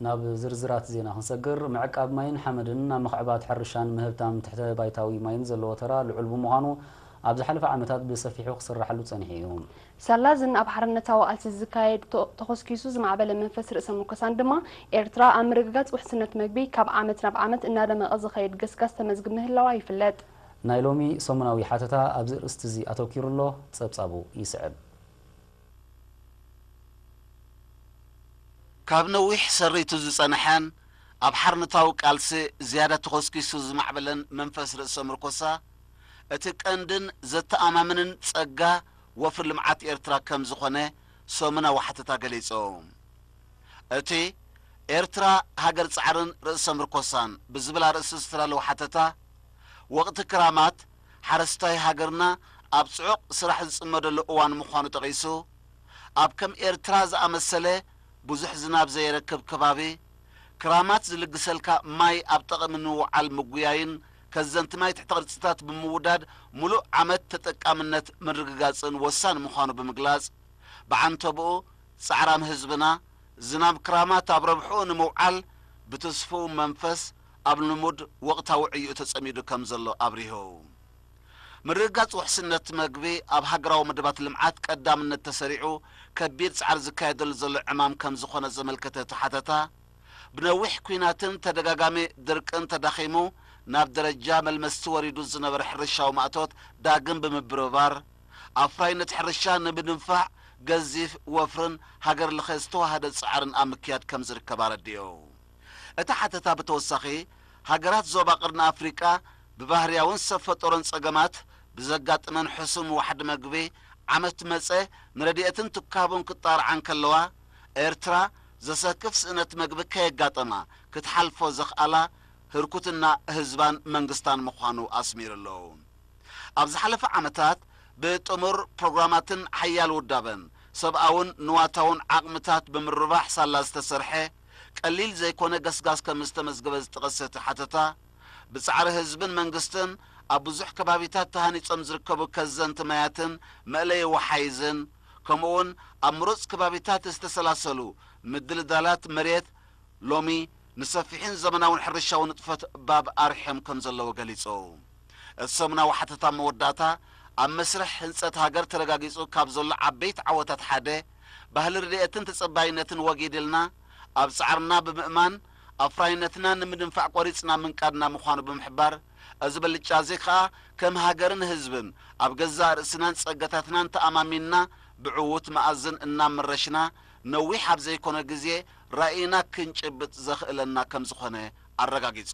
ናብ ዝርዝራት ዜና ክንሰግር፣ ምዕቃብ ማይን ሓመድን ኣብ ምኽዕባት ሕርሻን ምህብታም ትሕተ ባይታዊ ማይን ዘለዎ ተራ ልዑል ብምዃኑ ኣብ ዝሓለፈ ዓመታት ብሰፊሑ ክስራሓሉ ጸኒሑ እዩ። ሳላ እዝን ኣብ ሓርነታዊ ቃልሲ ዝካየድ ተኾስኪሱ ዝማዕበለ መንፈስ ርእሰ ሙርኮሳን ድማ፣ ኤርትራ ኣብ ምርግጋጽ ውሕስነት መግቢ ካብ ዓመት ናብ ዓመት እናደመቐ ዝኸይድ ገስጋስ ተመዝግብ ምህላዋ ይፍለጥ። ናይ ሎሚ ሰሙናዊ ሓተታ ኣብዚ ኣርእስቲ'ዚ ኣተኲሩ ኣሎ። ጸብጻቡ ይስዕብ። ካብ ነዊሕ ሰሪቱ ዝጸነሐን ኣብ ሓርነታዊ ቃልሲ ዝያዳ ተኾስኪሱ ዝማዕበለን መንፈስ ርእሰ ምርኮሳ፣ እቲ ቀንድን ዘተኣማምንን ጸጋ ወፍሪ ልምዓት ኤርትራ ከም ዝኾነ ሰሙናዊ ሓተታ ገሊጾም። እቲ ኤርትራ ሃገር ጻዕርን ርእሰ ምርኮሳን ብዝብል ኣርእስቲ ዝተዳለወ ሓተታ፣ ወቕቲ ክራማት ሓረስታይ ሃገርና ኣብ ጽዑቕ ስራሕ ዝጽመደሉ እዋን ምዃኑ ጠቒሱ፣ ኣብ ከም ኤርትራ ዝኣመሰለ ብዙሕ ዝናብ ዘየረክብ ከባቢ፣ ክራማት ዝልግሰልካ ማይ ኣብ ጠቕሚ ንምውዓል ምጉያይን ከዘንቲ ማይ ትሕተ ቅርጺታት ብምውዳድ ምሉእ ዓመት ተጠቃምነት ምርግጋጽን ወሳኒ ምዃኑ ብምግላጽ፣ ብዓንተብኡ ጻዕራም ህዝብና ዝናብ ክራማት ኣብ ረብሕኡ ንምውዓል ብትስፉው መንፈስ ኣብ ልሙድ ወቕታዊ ዕዮኡ ተጸሚዱ ከም ዘሎ ኣብሪሁ። ምርግጋጽ ውሕስነት መግቢ ኣብ ሃገራዊ መደባት ልምዓት ቀዳምነት ተሰሪዑ ከቢድ ጻዕሪ ዝካየደሉ ዘሎ ዕማም ከም ዝኾነ ዘመልከተ እቲ ሓተታ፣ ብነዊሕ ኲናትን ተደጋጋሚ ድርቅን ተዳኺሙ ናብ ደረጃ መልመስቲ ወሪዱ ዝነበረ ሕርሻዊ ማእቶት ዳግም ብምብርባር፣ ኣፍራይነት ሕርሻ ንምድንፋዕ ገዚፍ ወፍርን ሃገር ለኸ ዝተወሃደ ጻዕርን ኣብ ምክያድ ከም ዝርከብ ኣረዲኡ። እቲ ሓተታ ብተወሳኺ፣ ሃገራት ዞባ ቀርኒ ኣፍሪቃ ብባህርያውን ሰብ ፈጠሮን ጸገማት ብዘጋጥመን ሕሱም ዋሕዲ መግቢ፣ ዓመት መጸ ንረድኤትን ትካቡን ክጣርዓ እንከለዋ፣ ኤርትራ ዘሰክፍ ስእነት መግቢ ከየጋጠማ ክትሓልፎ ዘኽኣላ ህርኩትና ህዝባን መንግስታን ምዃኑ ኣስሚሩ ኣሎ። ኣብ ዝሓለፈ ዓመታት ብጥሙር ፕሮግራማትን ሓያል ውዳበን፣ ሰብኣውን ንዋታውን ዓቕምታት ብምርባሕ ሳላ ዝተሰርሐ፣ ቀሊል ዘይኮነ ገስጋስ ከምዝተመዝገበ ዝጠቐሰ እቲ ሓተታ፣ ብጻዕሪ ህዝብን መንግስትን ኣብ ብዙሕ ከባቢታት ተሃኒጾም ዝርከቡ ከዘንቲ ማያትን መእለዪ ወሓይዝን ከምኡ'ውን ኣብ ምሩጽ ከባቢታት ዝተሰላሰሉ ምድልዳላት መሬት ሎሚ ንሰፊሕን ዘመናውን ሕርሻዊ ንጥፈት ባብ ኣርሒዮም ከምዘለዉ ገሊጹ። እቲ ሰሙናዊ ሓተታ መወዳእታ ኣብ መስርሕ ህንጸት ሃገር ተረጋጊጹ ካብ ዘሎ ዓበይቲ ዓወታት ሓደ ባህሊ ርድየትን ተጸባይነትን ወጊድልና ኣብ ጻዕርና ብምእማን ኣፍራይነትና ንምድንፋዕ ቆሪጽና ምንቃድና ምዃኑ ብምሕባር፣ እዚ ብልጫ'ዚ ከኣ ከም ሃገርን ህዝብን ኣብ ገዛእ ርእስናን ጸጋታትናን ተኣማሚንና ብዕዉት መኣዝን እናመረሽና ነዊሕ ኣብ ዘይኮነ ግዜ ራኢና ክንጭብጥ ዘኽእለና ከም ዝኾነ ኣረጋጊጹ።